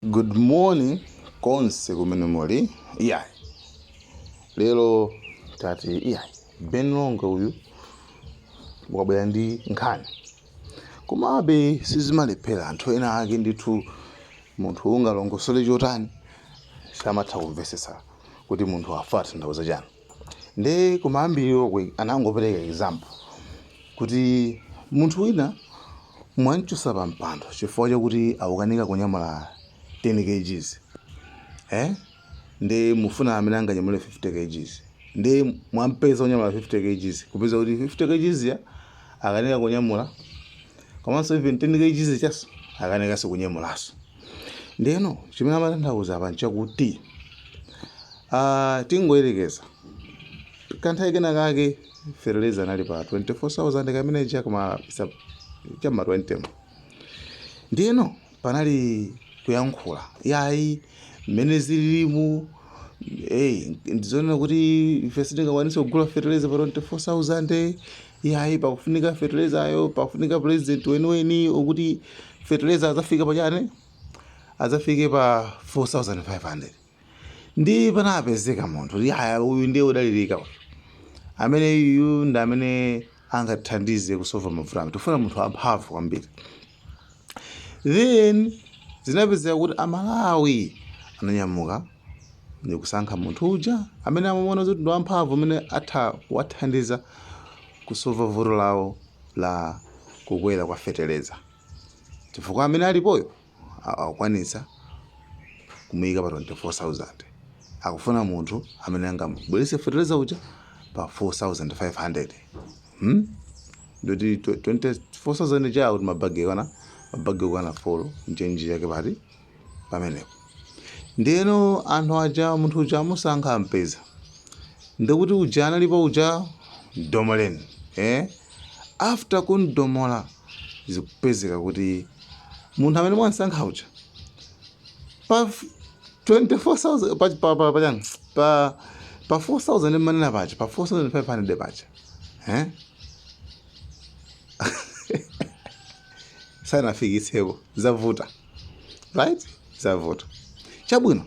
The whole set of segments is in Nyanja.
Good morning konse kumene muli iyayi lero tati iyayi Ben Longwe uyu wabwera ndi nkhani komabe sizimalephera anthu ena ake ndithu munthu ungalongosole chotani samatha kumvetsetsa kuti munthu akutanthauza chani Nde kumayambiliroko anangopereka example kuti munthu wina mwamchotsa pa mpando chifukwa chakuti akukanika kunyamula 10 kgs eh nde mufuna amene anganyamule 50 kgs nde mwampeza onyamula 50 kgs kupeza kuti 50 kgs ija akukanika kunyamula komanso even 10 kgs ijaso akukanikanso kunyamulaso. Ndiyeno chimene amatanthauza apa nchakuti uh, tingoyerekeza kanthawi kena kake fertilizer anali pa 24000 kamene cha kuma chama 20 ndiyeno panali kuyankhula yayi mmene zililimu hey, ndizonena kuti ife sitingakwanise kugula fertilizer pa 24000 iyayi pakufunika fertilizayo pakufunika president weniweni wokuti fertilizer adzafike pachani adzafike pa 4500 nde panapezeka munthu kuti aya uyu ndiye odalirika uyu amene uyu ndi amene angathandize kusova mavuto amene tifuna munthu amphamvu kwambiri Then zinapezeka kuti amalawi ananyamuka ndikusankha munthu uja amene amamuona kuti ndi wamphamvu amene atha kuwathandiza kusova vuto lawo la kukwera kwa feteleza chifukwa amene alipoyo a- akukwanitsa kumuyika pa 24000 akufuna munthu amene angamubwerese feteleza uja pa 4500 hmm? ndoti 24000 ija akuti mabagi kaya mabagi okwana folo nchenji yake pati pamenepo ndiyeno anthu aja munthu uja amusankha ampeza ndikuti uja analipo uja domoleni eh? after kundomola zikupezeka kuti munthu amene mwansankha uja pa 24000 pa pa pa pa, pa, pa 4000 mmanena paja pa 4500 paja eh? sanafikitsepo zavuta right zavuta chabwino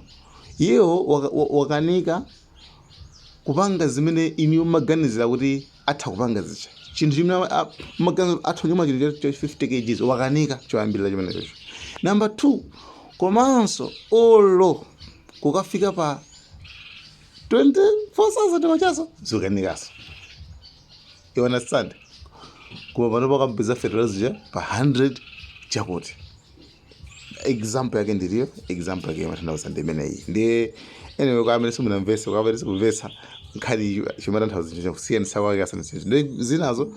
iyewo waka- wa- wakanika kupanga zimene inuyo mmaganizira kuti atha kupanga zija chinthu chimene mma- a- maganiza atha kunyamula chinthu cha 50 kgs wakanika choyambirira chimene chocho namba 2 komanso olo kukafika pa 24,000 kwachanso zukanikaso you understand koma pano pakamupeza fertilizer ja pa 100 chakuti example yake ndiliyo example yake imatanthauza ndi imeneyi ndi anyway kwa amene simunamvesa kwa amene sikumvesa nkhani chimatanthauza chicho kusiyana sakwake asana chicho ndi zinazo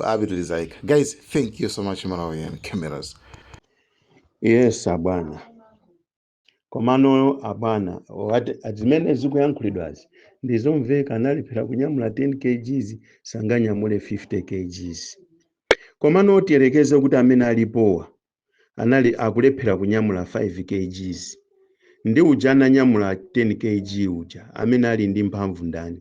apitilizaika guys thank you so much Malawian Cameras yes abwana komano abwana ati ati zimene zikuyankhulidwazi ndizomveka analephera kunyamula 10 kgs sanganyamule 50 kgs komano tiyerekeze kuti amene alipowa anali akulephera kunyamula 5 kgs ndi uja ananyamula 10 kg uja amene ali ndi mphamvu ndani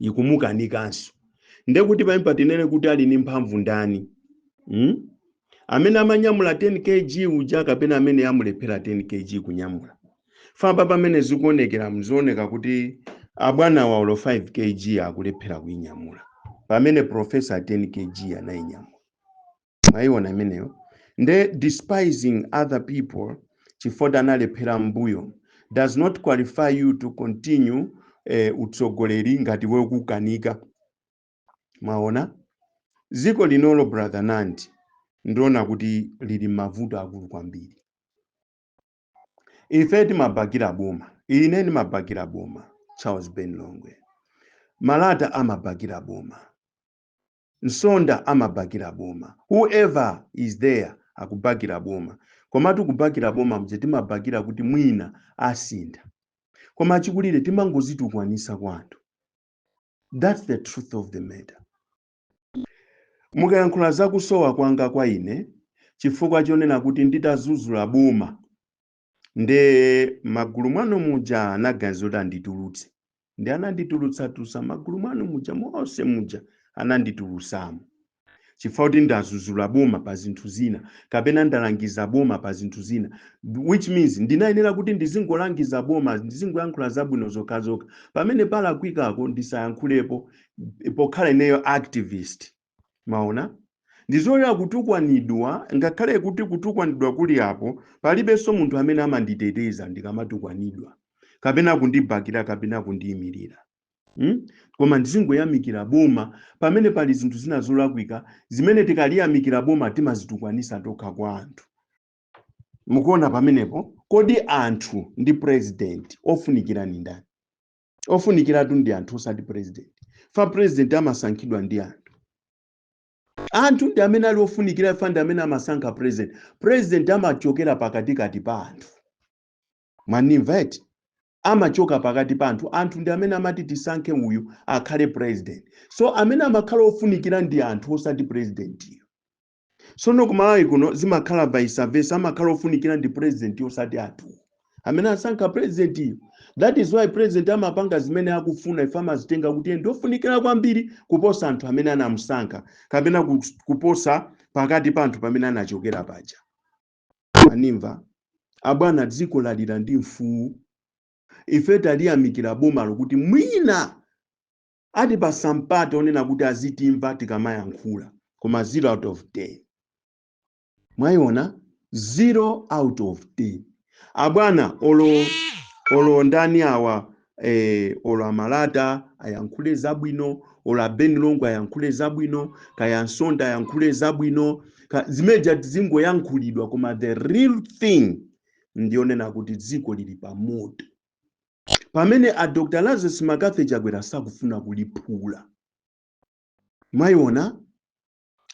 ikumukanikanso nde kuti pamene patinene kuti ali ndi mphamvu ndani mm? amene amanyamula 10 kg uja kapena amene amulephera 10 kg kunyamula famba pamene zikuonekera mzioneka kuti abwanawa olo 5 kg akulephera kuinyamula pamene profesa 10 kg anayinyamula mwayiona imeneyo nde despising other people chifukwa analephera mbuyo does not qualify you to continue eh, utsogoleri ngati iwe ukukanika mwaona dziko linolo brother nandi ndiona kuti lili mavuto akulu kwambiri ife timabakira boma ine ndimabakira boma charles ben longwe malata amabakira boma Nsonda amabakila boma who ever is there akubakila boma komatu kubakila boma muja timabakila kuti mwina asintha koma achikulile timangodzitukwanitsa kwa anthu that's the truth of the matter mukayankhula za kusowa kwanga kwa ine chifukwa chonena kuti nditadzudzula boma nde magulu mwanu muja anaganiza kuti anditulutse nde ananditulutsatulutsa magulu mwanu muja monse muja ananditulutsamo chifukwa chakuti ndadzudzula boma pa zinthu zina kapena ndalangiza boma pa zinthu zina which means ndinayenera kuti ndizingolangiza boma ndizingoyankhula zabwino zokhazokha pamene palakwikako ndisayankhulepo pokhala ineyo activist Mwaona? Ndizilolera kutukwanidwa, ngakhale kuti kutukwanidwa kuli apo, palibenso munthu amene amanditeteza ndikamatukwanidwa, kapena kundibakira kapena kundiimirira. Hmm? Koma ndizingoyamikira boma pamene pali zinthu zina zolakwika zimene tikaliyamikira boma timadzitukwanitsa tokha kwa anthu. Mukuona pamenepo? Kodi anthu ndi president wofunikira ndi ndani? ofunikiratu ndi anthu osati president fa president amasankhidwa ndi anthu anthu ndi amene ali ofunikira fa ndi amene amasankha president president amachokera pakatikati pa anthu mwanimva eti amachoka pakati pa anthu anthu ndi amene amati tisankhe uyu akhale president so amene amakhala ofunikira ndi anthu osati presidentiyo sono kumalawi kuno zimakhala vice versa amakhala ofunikira ndi president osati anthu amene asankha presidentiyo that is why president amapanga zimene akufuna ife amazitenga kuti ndi ofunikira kwambiri kuposa anthu amene anamusankha kapena ku- kuposa pakati pa anthu pamene anachokera paja mwanimva abwana dziko lalira ndi mfuwu ife taliyamikira bomalo kuti mwina Atipasa mpata onena kuti azitimva tikamayankhula koma 0 out of 10. Mwayiona 0 out of 10. Abwana olo olo ndani awa eh, olo amalata ayankhule zabwino olo abeni longwe ayankhule zabwino kaya nsonda ayankhule zabwino ka- zimezijatu zingoyankhulidwa koma the real thing ndiyonena kuti dziko lili pa moto pamene a dr lazarus mccarthy chakwera sakufuna kuliphula mwayiona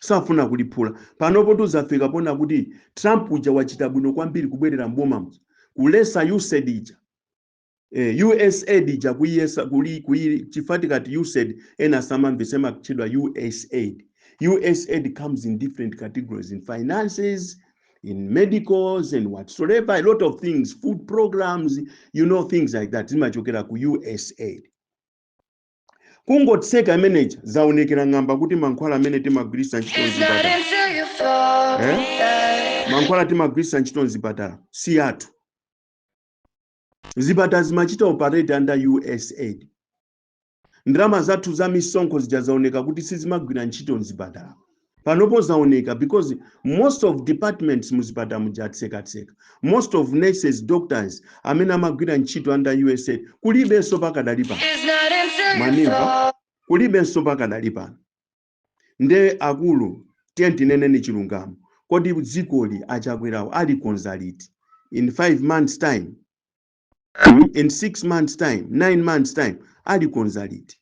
safuna kuliphula panopo tuzafika ponena kuti trump uja wachita bwino kwambiri kubwerera mbomamo kulesa usaid ija eh, usaid ija kuyesa kuli kuyi chifukwa tikati usaid ena samamvesa amakutchedwa usaid usaid comes in different categories in finances in medicals and whatsoever a lot of things food programs you know things like that zimachokera ku usaid kungotseka imeneja zaonekera ng'amba kuti mankhwala amene timagwiritsa ntchito mzipatala Eh? mankhwala timagwiritsa ntchito mzipatala si athu zipatala zimachita operate under usaid ndalama zathu za misonkho zija zaoneka kuti sizimagwira ntchito mzipatala panopo zaoneka because most of departments muzipatala muja atsekatseka most of nurses doctors amene amagwira ntchito under usaid kulibenso pakadali pano mwanimva kulibenso pakadali pano nde akulu tiyeni tineneni chilungamo kodi dzikoli achakwerawo alikonza liti in 5 months time mm? in six months time nine months time alikonza liti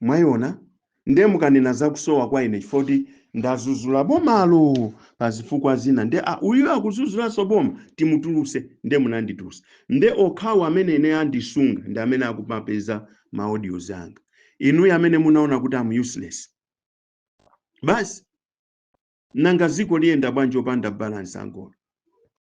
mwayiona nde mukanena zakusowa kwa ine chifukwa choti ndazuzula bomalo pa zifukwa zina nde ah, uyu akuzuzulaso boma timutuluse nde munandituluse nde okhawo amene ine andisunga ndi amene akumapeza ma audios anga inuyo amene munaona kuti am useless basi nanga ziko liyenda bwanji opanda balance angolo